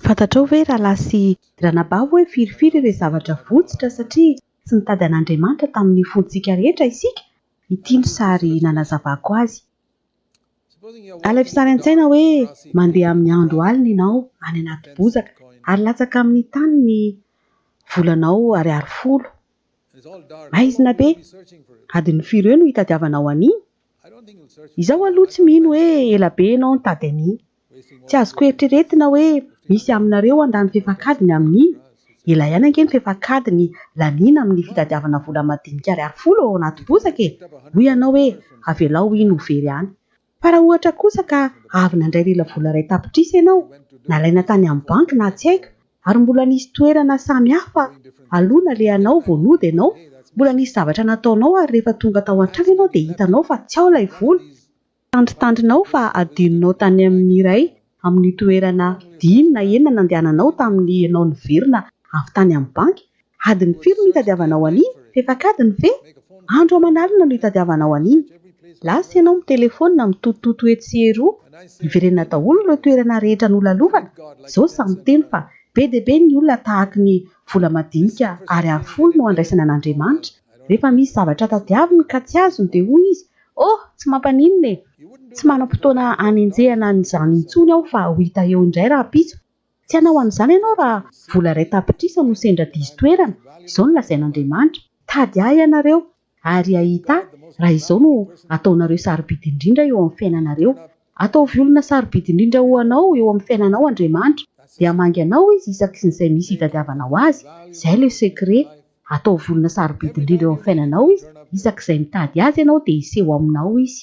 Fantatrao ve rahalahy sy ranabavy hoe firifiry ireo zavatra votsitra satria tsy nitady an'Andriamanitra tamin'ny fontsika rehetra isika? Ity no sary nanazavako azy. Alaivo sary an-tsaina hoe mandeha amin'ny andro alina ianao any anaty bozaka ary latsaka amin'ny tany ny volanao ariary folo. Maizina be! Adin'ny firy eo no hitadiavanao an'iny? Izaho aloha tsy mino hoe ela be ianao nitady an'iny. Tsy azoko eritreretina hoe misy aminareo handany fefak'adiny amin'iny? Ela ihany ange ny fefak'adiny laniana amin'ny fitadiavana vola madinika ariary folo ao anaty bozaka e! Hoy ianao hoe avelao iny ho very any. Fa raha ohatra kosa ka avy nandray lelavola iray tapitrisa ianao, nalaina tany amin'ny banky na tsy haiko, Ary mbola nisy toerana samy hafa aloha nalehanao vao nody ianao, mbola nisy zavatra nataonao ary rehefa tonga tao an-trano ianao dia hitanao fa tsy ao ilay vola, tandrintandrinao fa adinonao tany amin'ny iray amin'ny toerana dimy na enina nandehananao tamin'ny ianao niverina avy tany amin'ny banky Adiny firy no itadiavanao an'iny? Fefak'adiny ve? Andro aman'alina no itadiavanao an'iny. Lasa ianao mitelefaonina, mitotototo etsy sy eroa. Iverenana daholo ireo toerana rehetra nolalovana. Izao samy miteny fa be dia be ny olona tahaky ny vola madinika ary arofolo no andraisana an'Andriamanitra. Rehefa misy zavatra tadiaviny ka tsy azony dia hoy izy, Oh, tsy mampaninona e! Tsy manam-potoana hanenjehana an'izany intsony aho fa ho hita eo indray rahampitso. Tsy hanao an'izany ianao raha vola iray tapitrisa no sendra diso toerana, izao no lazain'Andriamanitra, Tady Ahy ianareo, ary hahita Ahy, raha izao no ataonareo sarobidy indrindra eo amin'ny fiainanareo. Ataovy olona sarobidy indrindra ho Anao eo amin'ny fiainanao Andriamanitra, dia hamangy anao Izy isaky ny izay misy hitadiavanao Azy, izay le secret, ataovy olona sarobidy indrindra eo amin'ny fiainanao Izy, isaky izay mitady Azy ianao dia hiseho ao aminao Izy.